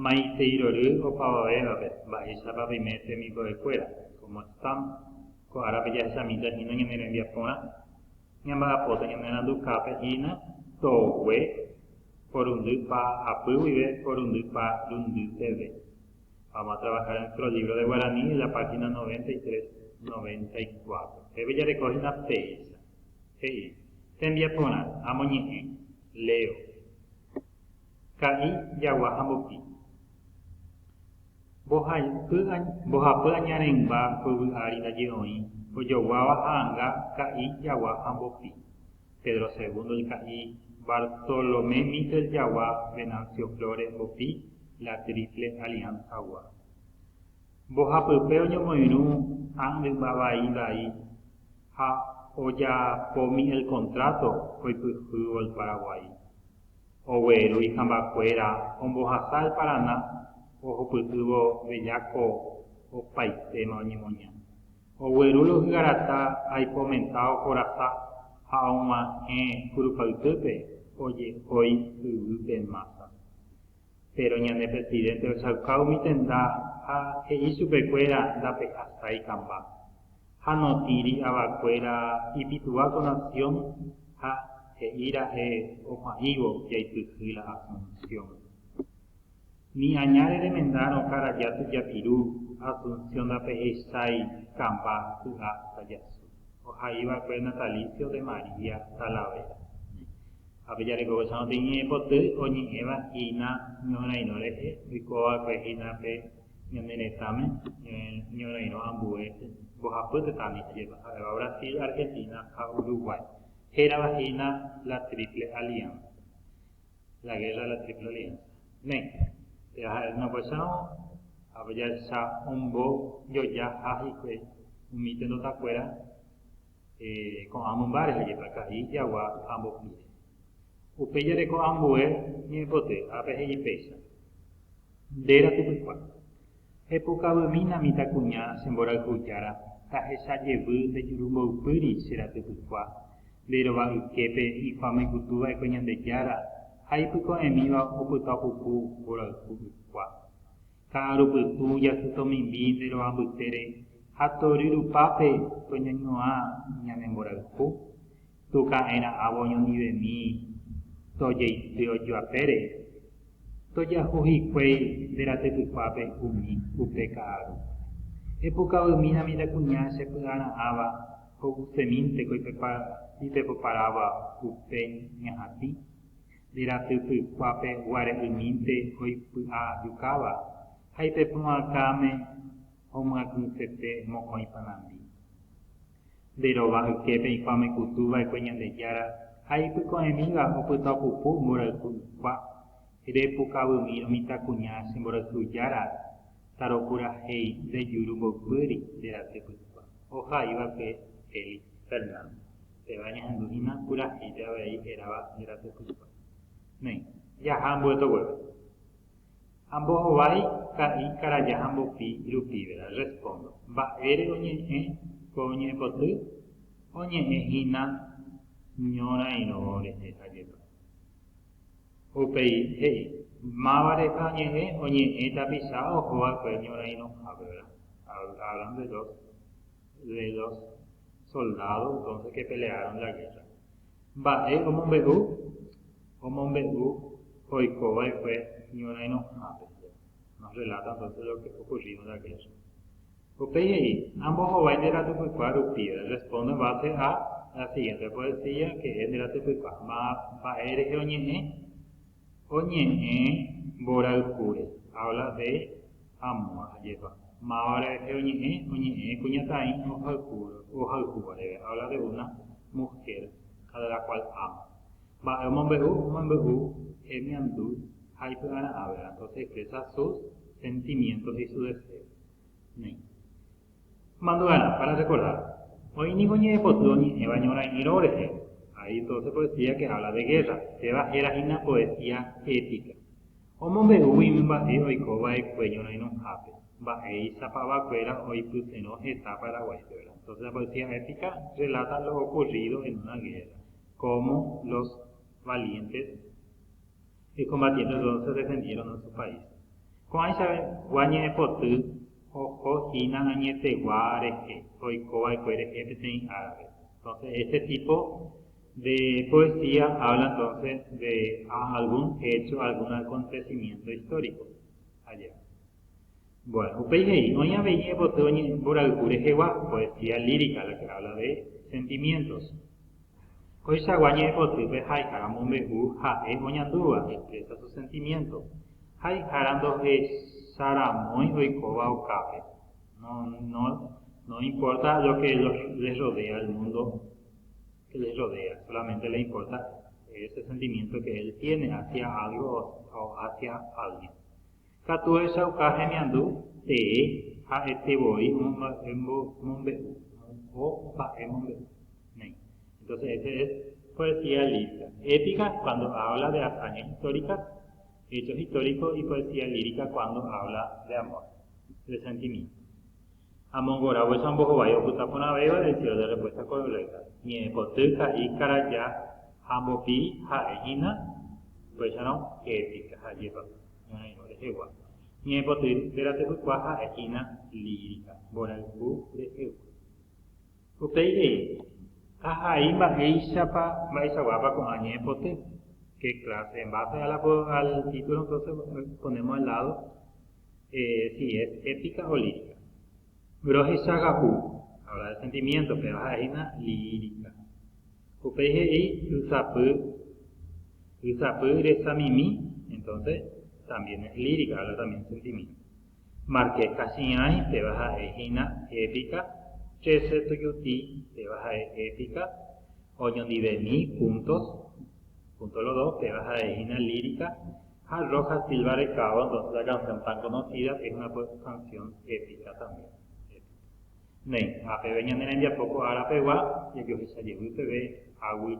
Maiteirory opavavévape mba'éichapa peime tembikovekuéra, como están, ko árape jahechamíta hína ñane rembiaporã, ñamba'apóta ñanerandukápe hína togue porundy pa apy guive porundy pa rundy peve. Vamos a trabajar en nuestro libro de guaraní de la página 93, 94. Peve jareko hína péicha. He'i, Tembiaporã, amoñe'ẽ. Leo. Ka'i jagua ha mbopi. Mbohapy añareĩmba yvy ári ndaje oĩ ojoguáva ha'anga ka'i jagua ha mbopi. Pedro Segundo el Ka'i, Bartolomé Mitre el Jagua, Venancio Flores, Mbopi, La Triple Alianza gua. Mbohapype oñomoirũ a'ndyma vai vai ha ojapomi el contrato oipyhývo el Paraguái. Ogueru ihambakuéra ombohasa el Paraná ohupytývo Bellaco opaitéma oñemoña. Oguerúrõ ohygarata aipomenta ohorasa ha og̃uahẽ kurupaytýpe ojehói yvýpe mása. Péro ñane presidénte ochauka umi tenda ha he'i chupekuéra ndapehasái kamba. Ha notĩri avakuéra ipytũva ko nasiõ ha he'íra'e opu'ãívo jaipyhy la Asunción. Ni añáre remendárõ karaja tujapiru Asunción ndapehechái kamba ky'a tajasu, ohaiva'ekue Natalicio de María Talavera. Ha pejarekovéicharõ peñe'ẽpoty oñe'ẽva hína ñohyrãirõ rehe, oikova'ekue hína pe ñane retãme ñorairõ ambue mbohapy tetã ndiképa, ha'éva Brasil, Argentina ha Uruguay, hérava hína la Triple Alianza, la guerra de la Triple Alianza. Néi, péva ha'e hína opaichárõ, ha jahecha ombojojaha hikuái umi tenondakuéra ko'ã mymba rehe jepa, ka'i, jagua ha mbopíre. Upéi jareko ambue ñe'ẽpoty, ápe he'i péicha. Nde rapykuéra, epokavy'mína mitãkuña che mborayhu jára, tahecha jevy nde juru mboypýri che rapykuéra, nde rova yképe ifamoikutu va'ekue Ñandejára ha ipyko'ẽmíva opytapuku mborayhu ykuéra. Ka'aru pytu jahytomimbi nde rova mbytére ha tory rupápe toñañuã ñane mborayhu, Tuka'erã'avo oñondivemi tojeity ojoapére, tojahu hikuéi nde ratypykuápe umi upe ka'aru. Epukavy'mína mitãkuña che py'ara'ãva ho'usemínte ko ipepoparáva upe ñahatĩ, nde ratypykuápe guare'ymínte oipy'ajukáva ha ipepy'akãme. Omyatỹsete mokõi panambi. Nde rova yképe eikuaa omeputu va'ekue Ñandejára ha ipyko'ẽmíva opyta opupu mborayhu ykua, repukavymírõ mitãkuña che mborayhujára tarokurahéi nde juru mboypýri nde raty pykua. Ohai va'ekue Félix. Fernando. Péva ñahendu hína purahéipe avei hérava nde raty pykua. Néi, jaha mbo'etogueve. Ha mbohovái ka'i karaja ha mbopi rupíverã. Respóndo. Mba'ére oñe'ẽ ko oñe'ẽpoty? Oñe'ẽ hína ñorairõ rehe ajépa. Upéi he'i, Máva reka oñe'ẽ? Oñe'ẽ tapicha oho va'ekue ñorairõhápe, vera. Hablaron de dos, de dos soldados entonces que pelearon la guerra. Mba'e omombe'u? Omombe'u oikova'ekue ñorairõhápe. Nos relata entonces lo que ocurrido en la guerra. Upéi he'i, Ambohovái nde ratepykua rupive, respondo en base a la siguiente poesía que es nde ratepykua, mba'e rehe oñe'ẽ? Oñe'ẽ mboraykúre, habla de amor, ajépa. Mávare rehe oñe'ẽ, oñe'ẽ kuñataĩ ohayhúva reve, habla de una mujer a la cual ama. Mba'e omombe'u? Omombe'u hemiandu ha ipy'ara'ãvera, entonces expresa sus sentimientos y su deseo. Néi. Mandu'arã, para recordar. Oĩ niko ñe'ẽpoty oñe'ẽva ñorãirõ rehe, ahí todo se poesía que habla de guerra, péva héra hína poesía épica. Omombe'úgui umi mba'e oiko va'ekue ñorãirõhápe, mba'éichapa vakuéra oipyterõ heta Paraguáipe, ¿verdad? Entonces la poesía épica relata lo ocurrido en una guerra, cómo los valientes ekombatienteguágui ojedefendieron su país. Ko'ãichagua ñe'ẽpoty oho hína añetegua rehe oikova'ekue rehe peteĩ árape. Entonces este tipo de poesía habla entonces de algún hecho, algún acontecimiento histórico allá. Bueno, upéi he'i, Oĩ avei epoty oñe'ẽ mborayhu rehegua, poesía lírica, la que habla de sentimientos. Koichagua ñe'ẽpotýpe ha'ehára omombe'u ha'e oñandúva, expresa su sentimiento. Ha'ehára ndohecharamói oikóva okápe, no, no, no importa lo que les rodea, el mundo que les rodea, solamente le importa ese sentimiento que él tiene hacia algo o hacia alguien. Katu ehechauka hemiandu tee ha'ete voi omomba'e mombe'u, o mba'e mombe'u néi. Entonces ese es poesía lírica. Épica es cuando habla de hazañas históricas, hechos históricos y poesía lírica cuando habla de amor, de sentimiento. Ha mongoráguicha ombohovái opyta porãvéva el cielo de respuesta correcta. Ñe'ẽpoty, ka'i, karaja ha mbopi ha'e hína, upéicharõ épica. Ha ajépa. ñorairõ rehegua. Ñe'ẽpoty térã tepykua ha'e hína lírica, mborayhu rehegua. Upéi he'i, Ahai mba'éichapa mba'eichaguápa ko'ã ñe'ẽpoty, qué clase, en base a la al título entonces ponemos al lado si es épica o lírica. Rohechaga'u, ahora de sentimiento peva ha'e hína lírica. Upéi he'i ysapy, ysapy resamimi, entonces también es lírica, habla también de sentimiento. Marqués Kachiãi peva ha'e hína épica, Trece Tujuti peva ha'e épica, Oñondivemi, Puntos, Puntos los dos peva ha'e hína lírica, Ha Rojas Silva Recado, entonces la canción tan conocida es una canción épica también, épica. Néi, ha peve ñane rembiapo ko ára pegua jajohecha jevy peve águi.